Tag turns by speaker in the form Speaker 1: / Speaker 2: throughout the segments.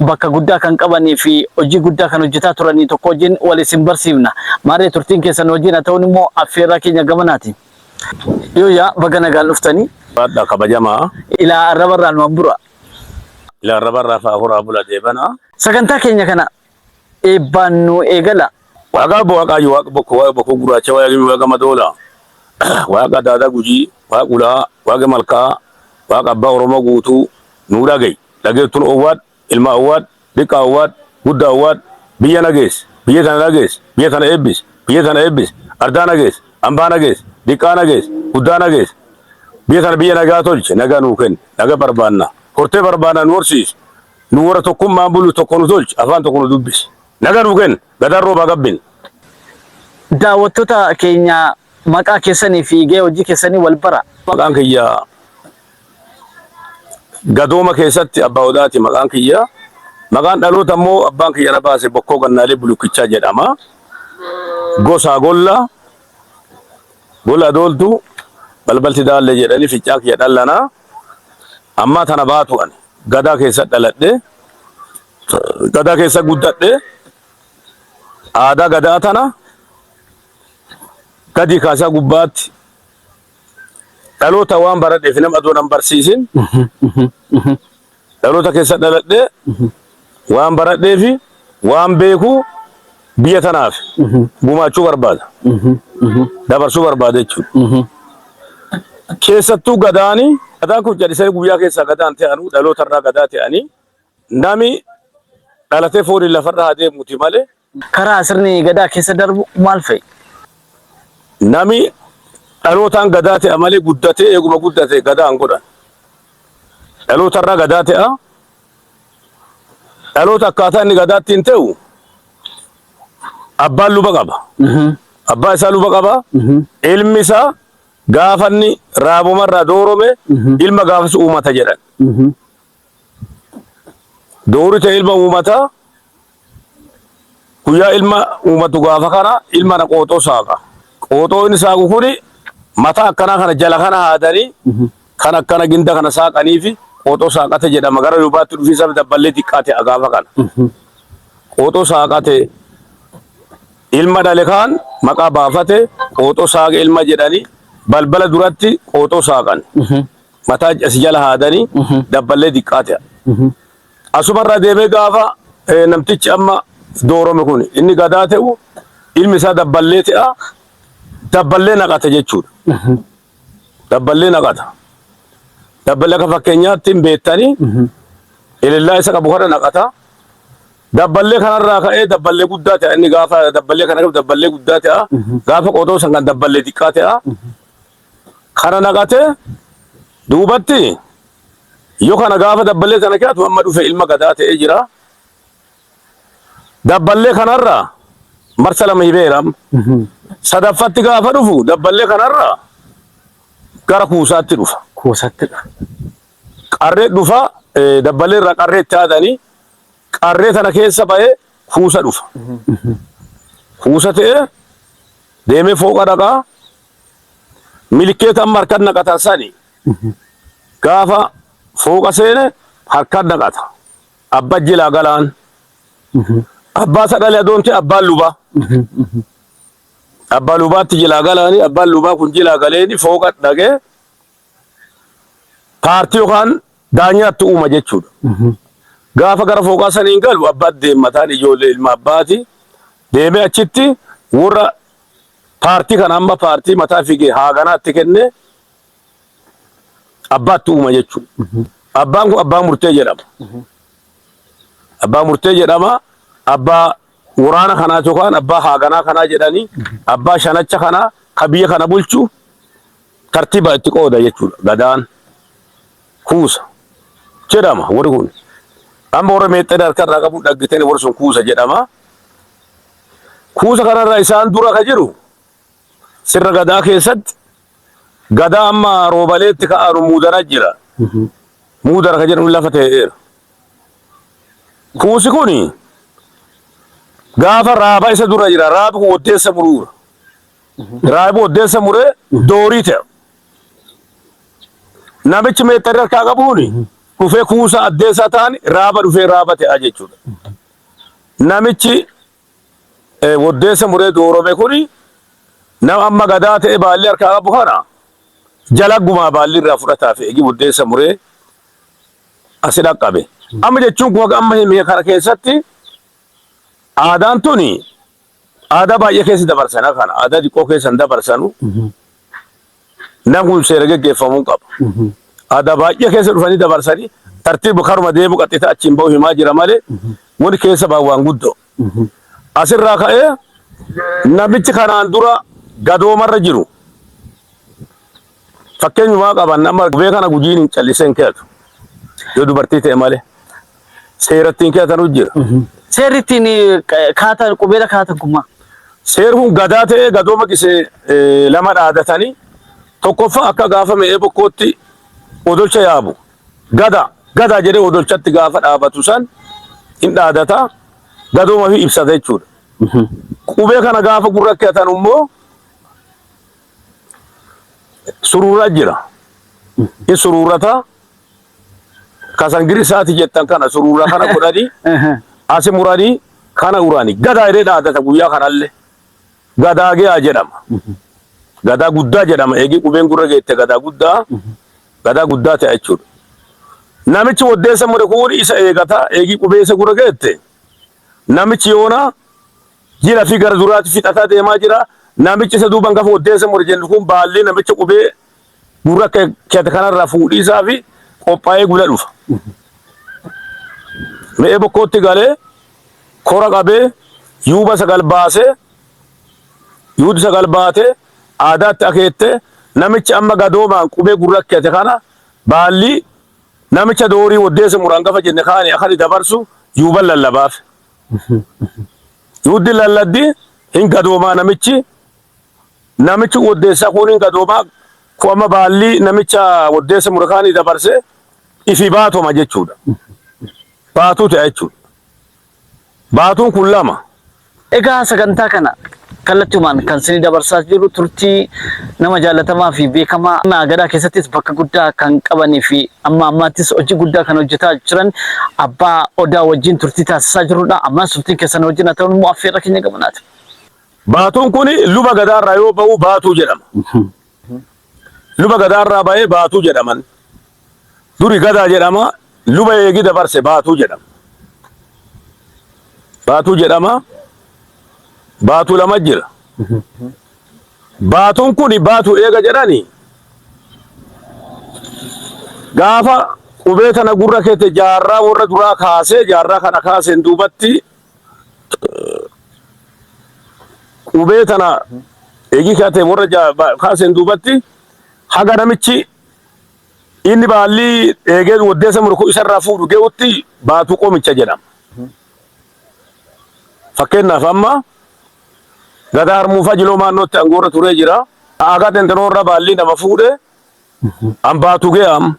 Speaker 1: bakka guddaa kan qabanii fi hojii guddaa kan hojjetaa turanii tokko wajjin wal isin barsiifna. Maarree turtiin keessan nu wajjin haa ta'uun immoo affeerraa keenya gamanaati. Yooyyaa baga nagaan dhuftanii. Baadha kabajamaa.
Speaker 2: Ilaa arraba irraa
Speaker 1: nu abbura. Ilaa
Speaker 2: arraba irraa faahuraa bula deebana. Sagantaa keenya kana
Speaker 1: eebbaan nu eegala. Waaqa abba waaqaa
Speaker 2: yu waaqa bokko waaqa bokko guraacha waaqa gimi waaqa madoola waaqa daadaa gujii waaqa ulaa waaqa malkaa waaqa abbaa oromoo guutuu nuu dhagayi dhageettun owwaad ilma owwaad diqqaa owwaad guddaa owwaad biyya nagees biyya tana nagees biyya tana eebbis biyya tana eebbis ardaa nagees ambaa nagees diqqaa nagees guddaa nagees biyya tana biyya nagaa tolche nagaa nuu kenni naga barbaanna hortee barbaanna nu horsiis Nu warra tokkummaan bulu tokko nu tolchi, afaan tokko nu dubbisi. Nagaa nuu kenni, gadaan roobaa gabbin. Daawwattoota
Speaker 1: keenya maqaa keessanii fi gahee hojii keessanii wal bara. Maqaan kiyya
Speaker 2: Gadooma keessatti Abbaa Odaati maqaan kiyya. Maqaan dhaloota immoo abbaan kiyya na baase Bokkoo Gannaalee Bulukkichaa jedhama. Gosaa Golla, Gola Dooltu, Balbalti Daallee jedhanii fincaan kiyya dhallanaa. Ammaa tana baatu ani. Gadaa keessa dhaladhe, gadaa keessa guddadhe, aadaa gadaa tana gadi kaasaa gubbaatti dhaloota waan baradheef nama adoo nan barsiisin dhaloota keessa dhaladhe Waan baradhee fi waan beeku biyya tanaaf gumaachuu barbaada. Dabarsuu barbaada jechuudha. Keessattuu gadaani gadaan kun callisee guyyaa keessaa gadaan ta'anuu dhaloota irraa gadaa ta'anii nami dhalatee fooniin lafarra haa deemuuti malee karaa sirni
Speaker 1: Gadaa keessa darbu maal fa'i?
Speaker 2: Nami dhalootaan Gadaa te'a malee guddatee eeguma guddate Gadaa hin godhan. Dhaloota irraa Gadaa te'a. Dhaloota akkaataa inni Gadaa ittiin te'u abbaan luba qaba. Abbaa isaa luba qaba. Ilmi isaa gaafa inni raabuma irraa doorome ilma gaafas uumata jedhan. Doori ta ilma uumata guyyaa ilma uumatu gaafa kana ilma na qooxoo saaqa. Qooxoo inni saaqu kuni mata akkanaa kana jala kana haadanii kan akkana ginda kana saaqanii fi qooxoo saaqate jedhama gara duubaatti dhufiisa dabballee xiqqaate gaafa kana. Qooxoo saaqate ilma dhale kaan maqaa baafate qooxoo saaqa ilma jedhanii balbala duratti qooxoo saaqan. mataa asi jala haadanii dabballee diqqaa ta'a. Asumarraa deemee gaafa eh, namtichi amma doorome kun inni gadaa ta'u ilmi isaa dabballee ta'a dabballee naqata jechuudha. Dabballee naqata. Dabballee akka fakkeenyaatti hin beektanii ilillaa isa qabu kana naqata. Dabballee kanarraa ka'ee dabballee guddaa ta'a inni gaafa dabballee kana qabu dabballee guddaa ta'a gaafa qotoo san kan dabballee xiqqaa ta'a. kana naqate duubatti yo kana gaafa dabballee kana keatu amma dhufe ilma gadaa ta'ee jira dabballee kanarra marsa lama hibeera sadaffatti gaafa dhufu dabballee kanarra gara kuusaatti dhufa kuusatti dhufa
Speaker 1: qarree
Speaker 2: dhufa dabballee irraa qarree itti aadanii qarree tana keessa ba'ee kuusa dhufa kuusa ta'ee deemee fooqa dhaqaa milkeeta amma harkan naqatan sani gaafa fooqa seene harkan naqata abba jilaa galaan abbaa sagalee adoonti abbaan lubaa abbaa lubaatti jilaa galaani abbaan lubaa kun jilaa galeeni fooqa dhagee paartii yookaan daanyaatti uuma jechuudha. Gaafa gara fooqaa saniin galu abbaatti deemmataan ijoollee ilma abbaati deemee achitti warra paartii kana amma paartii mataa figee haaganaatti kenne abbaatti uuma jechuudha. Abbaan kun abbaa murtee jedhama. Abbaa murtee jedhama abbaa waraana kanaa yookaan abbaa haaganaa kanaa jedhanii abbaa shanacha kanaa ka biyya kana bulchu tartiba itti qooda jechuudha. Gadaan kuusa jedhama warri kun. Amma warra meexxee harkarraa qabu dhaggiteen warri sun kuusa jedhama. Kuusa kanarra isaan dura ka jiru sirna gadaa keessatti gadaa amma roobaleetti ka'aanu muudara jira. Muudara ka jedhamu lafa ta'eera. Kuusi kun gaafa raaba isa dura jira. Raabi kun waddeessa muruura. Raayibu oddeessa muree doorii ta'e. Namichi meexxarri harkaa qabuun dhufee kuusaa addeessaa ta'an raaba dhufee raaba ta'aa jechuudha. Namichi oddeessa muree doorome kun nama amma gadaa ta'e baalli harkaa qabu kana jalaggumaa baalli irraa fudhataa fi eegi oddeessa muree asi dhaqqabe. Amma jechuun kun amma himee kana keessatti aadaan tuni Aadaa baay'ee keessa dabarsana kana aadaa xiqqoo keessa hin dabarsanu namni seera geggeeffamuu hin qabu. Aadaa baay'ee keessa dhufanii dabarsanii tartiiba karuma deemu qaxxita achiin bahu himaa jira malee wani keessa baa waan guddoo. Asirraa ka'ee namichi kanaan dura gadoomarra jiru. Fakkeenyumaa qaban nama gubee kana gujiin hin callisee hin keeyatu. Yoo dubartii ta'e malee seera ittiin keeyatanu jira. Seerri ittiin
Speaker 1: eh, ka- kaatan qubeela kaatan kun maal? Seerri kun
Speaker 2: gadaa ta'ee gadooma gisee eh, lama dhaadatanii tokkoffaa akka gaafa me'ee bokkootti odolcha yaabu. Gada gada jedhee odolchatti gaafa dhaabatu san hin dhaadata gadooma fi ibsata jechuudha. Qubee kana gaafa gurra keeyatan immoo suruuraa jira. Hin suruurata. Kasan girisaati jettan kana suruura kana godhani asi murani kana urani gadaa jedhee dhaadata guyyaa kanallee. Gadaa ge'aa jedhama. Gadaa guddaa jedhama. Eegii qubeen gurra geette gadaa guddaa gadaa guddaa ta'a jechuudha. Namichi waddeessa mure kun isa eegata. Eegii qubee isa gurra geette namichi yoona Jila fi gara duraati fixataa deemaa jira. Namichi isa duuban gafa oddeessa more jennu kun baallii namicha qubee gurra akka keete kanarraa fuudhiisaa fi qophaa'ee gula dhufa. Re'ee bokkootti galee kora qabee yuuba sagal baasee yuuti sagal baatee aadaatti akeettee namichi amma gadoomaan qubee gurra akka keete kana baallii namicha doorii oddeessa muraan gafa jenne kaani akani dabarsu yuuban lallabaaf. Yuuddi lalladdi hin gadoomaa namichi namichi woddeessa kuun hin gadoomaa ku amma baallii namicha woddeessa murakaanii dabarse ifi baatoma jechuudha. Baatuu ta'a jechuudha. Baatuun kun lama. Egaa
Speaker 1: sagantaa kana Kallattiumaan kan sini dabarsaa jirru turtii nama jaallatamaa fi beekamaa Aanaa Agadaa keessattis bakka guddaa kan qabanii fi amma ammaattis hojii guddaa kan hojjetaa jiran Abbaa Odaa wajjin turtii taasisaa jirrudha. Ammas turtiin keessan nu wajjin haa ta'u immoo affeerra keenya gamanaati. Baatuun
Speaker 2: kun Luba Gadaarraa yoo ba'u Baatuu jedhama. Luba Gadaarraa ba'ee Baatuu jedhaman. Duri Gadaa jedhama. Luba eegi dabarse Baatuu jedhama. Baatuu jedhama. Baatuu lama jira. Baatuun kun Baatuu eega jedhani gaafa qubee tana gurra keete jaarraa warra duraa kaasee jaarraa kana kaaseen duubatti qubee tana eegii kaatee warra ja- ba- kaaseen duubatti haga namichi inni baallii eegee waddeessa murku isarraa fuudhu ge'utti baatu qomicha jedhama. Fakkeenyaaf amma gadaa harmuufaa jiloo maannootti angoorra turee jira. Aagaa xinxinoorra baallii nama fuudhe an baatu ge'am.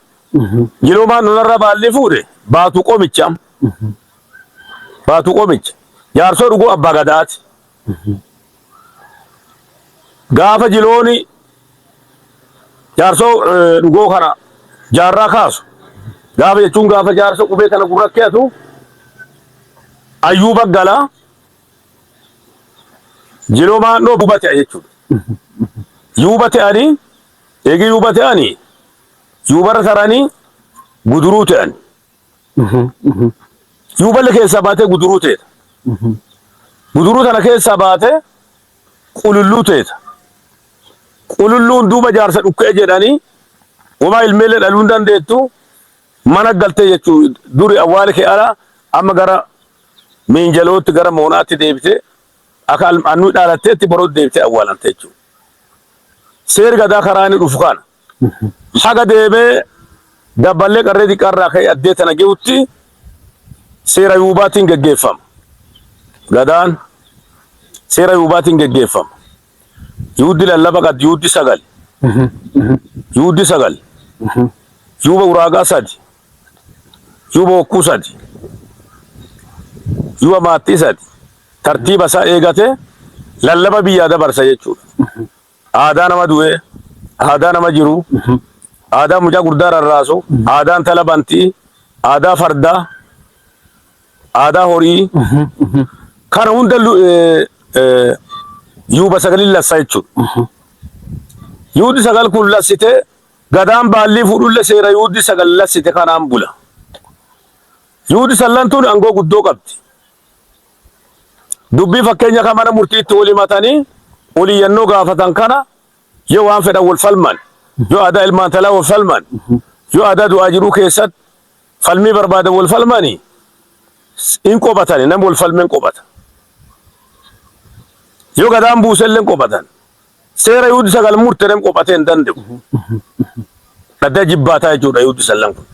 Speaker 2: Jiloo maannoorra baallii fuudhe baatu qomicha. Baatuu Qoomicha. Jaarsoo dhuguu Abbaa Gadaati. Gaafa jilooni jaarsoo eh, dhugoo kana jaarraa kaasu. Gaafa jechuun gaafa jaarsa qubee kana gurra keetu ayyuu baggala jiloo maannoo duuba ta'e jechuudha. Yuuba ta'anii eegi yuuba ta'anii yuubarra taranii guduruu ta'an. Yoo balla keessaa baatee guduruu teeta. Guduruu tana keessaa baatee qululluu teeta. Qululluun duuba jaarsa dhukkee jedhanii wamaa ilmeellee dhaluu hin dandeettu mana galtee jechuu duri awwaali kee ala amma gara miinjalootti gara moonaatti deebitee akka annuu dhaalatteetti boroo deebitee awwaalamte jechuudha. Seeri gadaa karaa inni dhufu kana. Haga deebee Dabballee Qarree Diqqaa irraa ka'ee addee tana ge'utti seera Yuubaatiin geggeeffama. Gadaan seera Yuubaatiin geggeeffama. Yuuddi lallaba qad yuuddi sagal. Yuuddi sagal. Yuuba uraagaa sadi. Yuuba hokkuu sadi. Yuuba maattii sadi. Tartiiba isaa eegatee lallaba biyyaa dabarsa jechuudha. Aadaa nama du'ee, aadaa nama jiruu, aadaa mucaa guddaa rarraasu, aadaa intala bantii, aadaa fardaa, aadaa horii kana hunda lu- eh, eh, yuuba sagalin lassa jechuudha. Yuuddi sagal kun lassite gadaan baallii fuudhulle seera yuuddi sagal lassite kanaan bula. Yuuddi sallantuun aangoo guddoo qabdi. Dubbii fakkeenya kan mana murtiitti wal himatanii ol iyyannoo gaafatan kana yoo waan fedhan wal falman, yoo aadaa ilmaan talaa wal falman, yoo aadaa du'aa jiruu keessatti falmii barbaadan wal falmani in qobatani nam wal falmen qobata. Yoo gadaan buuselleen qobatan. Seera yuuddi sagal murtedhan qobatee hin danda'u. Dhaddaa jibbaataa jechuudha yuuddi sallan kun.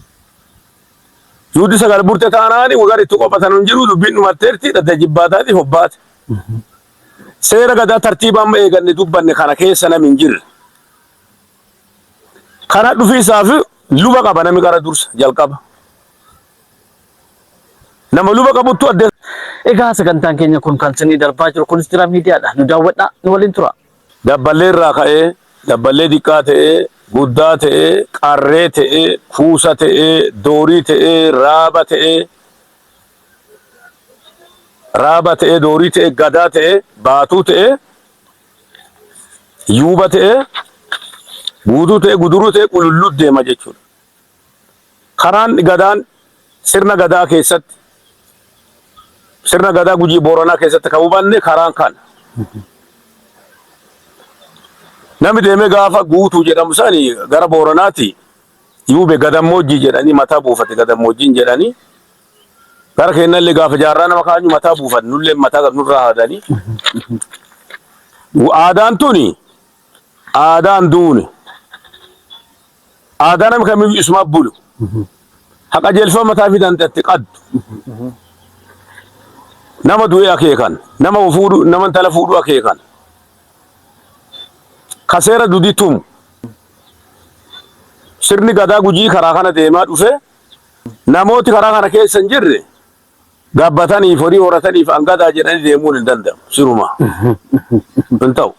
Speaker 2: Yuuddi sagal burte kaanaani wagara itti qophatanu injiru, dubbin d'umatteerti, d'adda ijibbaataatiif hobbaate. Seera Gadaa tartiiba amma eeganne dubbanne kana keessa nami injirre. Kana dhufiisaaf luba qaba nami qara dursa, jalqaba. Nama luba qabuttu adda. Egaa sagantaan
Speaker 1: keenya kun kan isinii darbaa jiru Kunistira Miidiyaadha. Nu daawwadhaa, nu waliin turaa. Dabballee irraa
Speaker 2: ka'ee, dabballee diqqaa ta'ee, guddaa ta'ee, qarree ta'ee, kuusa ta'ee, doorii ta'ee, raaba ta'ee, raaba ta'ee, doorii ta'ee, gadaa ta'ee, baatuu ta'ee, yuuba ta'ee, guutuu ta'ee, guduruu ta'ee, qululluut deema jechuudha. Karaan Gadaan sirna Gadaa keessatti sirna Gadaa Gujii Booranaa keessatti kan hubanne karaan kana. Namni deemee gaafa guutuu jedhamu sani gara Booranaati yuube gadammoojjii jedhanii mataa buufate gadammoojjiin jedhanii gara keenyallee gaafa jaarraa nama kaanyu mataa buufate nullee mataa gad nurraa haadanii. Aadaan tuni aadaan duuni Aadaa nami kamiyyuu isumaaf bulu. Ha qajeelfama mataa ifii tante atti qaddu. Nama du'e akeekan, nama wo fuudhu, nama intala fuudhu akeekan. Ka seera dudii tumu. Sirni Gadaa Gujii karaa kana deemaa dhufe. Namooti karaa kana keessa hin jirre gabbataniif horii horataniif angadaa jedhanii deemuun hin danda'amu siruma hin ta'u.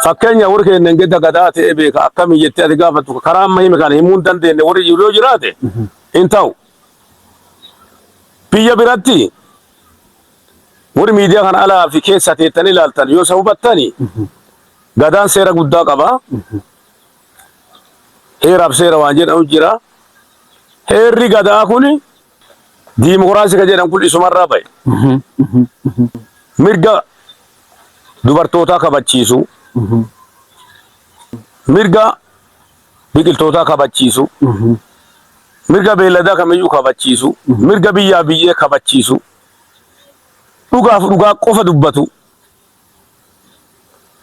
Speaker 2: Fakkeenya warri keenya gidda gadaa ta'ee beeka akkamii jettee ati gaafattu karaa amma hime kana himuu hin dandeenye warri jiru yoo jiraate hin ta'u. Biyya biratti warri miidiyaa kana alaa fi keessa teettanii ilaaltan yoo isa hubattani gadaan seera guddaa qaba. Heeraaf seera waan jedhamu jira. Heerri gadaa kun diimokiraasii kan jedhan kun isumarraa ba'e. Mirga dubartootaa kabachiisu, mirga biqiltootaa kabachiisu, mirga beelladaa kamiyyuu kabachiisu, mirga biyyaa biyyee kabachiisu, dhugaaf dhugaa qofa dubbatu.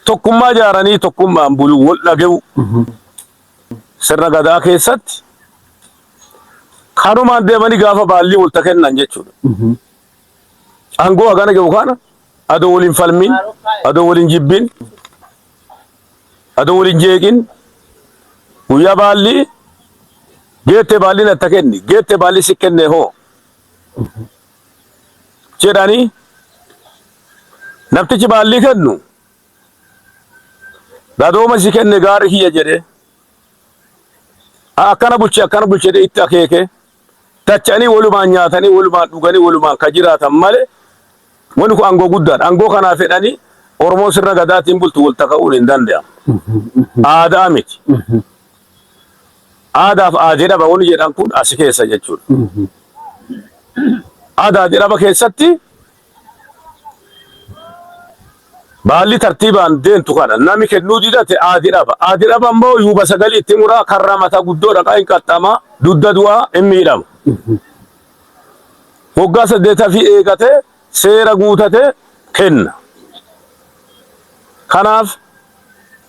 Speaker 2: tokkummaa ijaaranii tokkummaan buluu wal dhage'u sirna gadaa keessatti kanumaan deemanii gaafa baallii walta kennan jechuudha. Aangoo hagana jiru kana adoo waliin falmiin, adoo waliin jibbiin, adoo waliin jeeqin guyyaa baallii geettee baalliin atta kenni geettee baallii si kennee hoo jedhanii namtichi baallii kennu gadooma si kenne gaarri kiyya jedhe akkana bulche akkana bulche itti akeeke tacha'anii walumaan nyaatanii walumaan dhuganii walumaan ka jiraatan malee wani kun aangoo guddaadha aangoo kanaa fedhanii oromoon sirna gadaatiin bultu wal taka'uun hin danda'amu aadaa miti Aadaa fi aadee dhaba wani jedhan kun asi keessa jechuudha. Aadaa aadee dhaba keessatti baalli tartiibaan deemtu kana nami kennuu didate aadee dhaba. Aadee dhaba immoo yuuba sagalii itti muraa karra mata guddoo dhaqaa hin qaxxama dudda du'aa hin miidhama. Waggaa saddeeta fi eegate seera guutate kenna. Kanaaf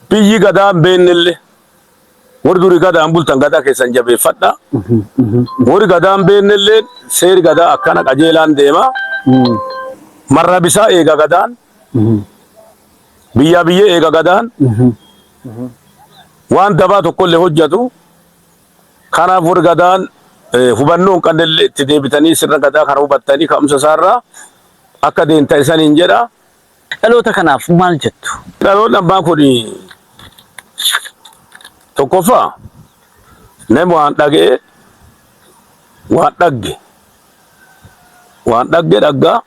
Speaker 2: biyyi gadaa hin beennelle Warri duri gadaan bultan gadaa keessan jabeeffadha. Warri gadaan beennellee seeri gadaa akkana qajeelaan deema. Marraa bisaa eega gadaan. Biyyaa biyyee eega gadaan. Waan dabaa tokkollee hojjetu. Kanaaf warri gadaan eh, hubannoo hin qabnellee itti deebitanii sirna gadaa kana hubattanii ka'umsa isaarraa akka deemtan isaniin jedha. Dhaloota
Speaker 1: kanaaf maal jettu? Dhaloonni abbaa kun
Speaker 2: tokkoffaa nam waan dhaga'e waan dhagge waan dhagge dhaggaa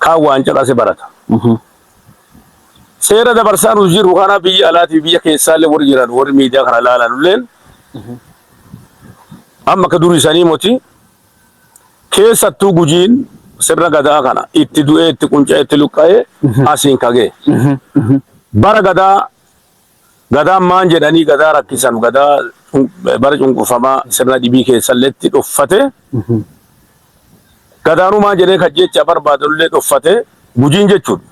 Speaker 2: kaan waan caqase barata. Seera dabarsaa nuti jirru kana biyya alaatii biyya keessaallee warri jiran warri miidiyaa kana ilaalanulleen amma akka durii sanii moti Keessattuu Gujiin sirna gadaa kana itti du'ee itti qunca'ee itti luqqa'ee asiin kagee. Bara gadaa gadaan maan jedhanii gadaa rakkisan gadaa cun- bara cunqurfamaa sirna dhibii keessalleetti dhoffate gadaanuu maan jedhee kan jecha barbaadullee dhoffate gujiin jechuudha.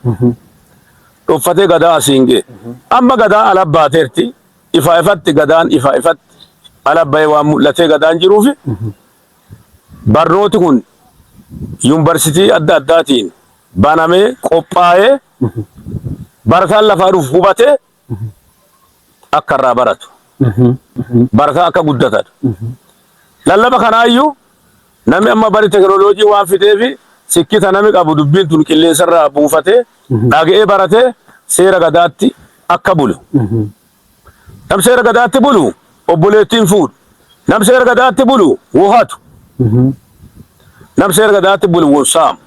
Speaker 2: Dhoffatee gadaa asiin gee. Amma gadaa ala baateerti Ifa ifatti gadaan ifa ifatti ala bahee waan mul'atee gadaan jiruufi barnooti kun yuunivarsiitii adda addaatiin banamee qophaa'ee barataan lafaa dhufu hubatee akka irraa baratu barataa akka guddatan lallaba kanaayyuu Nami amma bari teknolojii waan fixeefi sikkita nami qabu dubbiin tun qilleensarraa buufatee dhaga'ee baratee seera Gadaatti akka bulu. Nam seera Gadaatti bulu obboleettii hin fuudhu. Nam seera Gadaatti bulu wo hatu. Nam seera Gadaatti bulu wo saamu.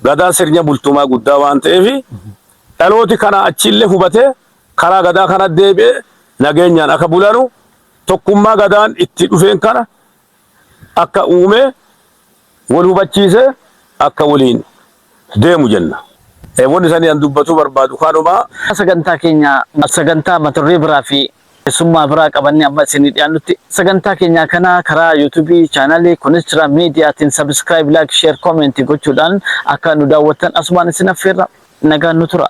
Speaker 2: Gadaan sirnya bultumaa guddaa waan ta'eefi dhalooti kanaa achiillee hubatee karaa Gadaa kana deebi'ee nageenyaan akka bulanu Tokkummaa Gadaan itti dhufeen kana akka uume wal hubachiisee akka waliin deemu jenna. Wanni sanii an dubbatuu barbaadu kanuma. Sagantaa
Speaker 1: keenya sagantaa mata duree biraa fi keessummaa biraa qabannee amma isinii dhiyaannutti sagantaa keenyaa kana karaa youtube channel Kunischira Media tiin subscribe, like, share, comment gochuudhaan akka nu daawwattan asumaan isin affeerra. Nagaan nu turaa.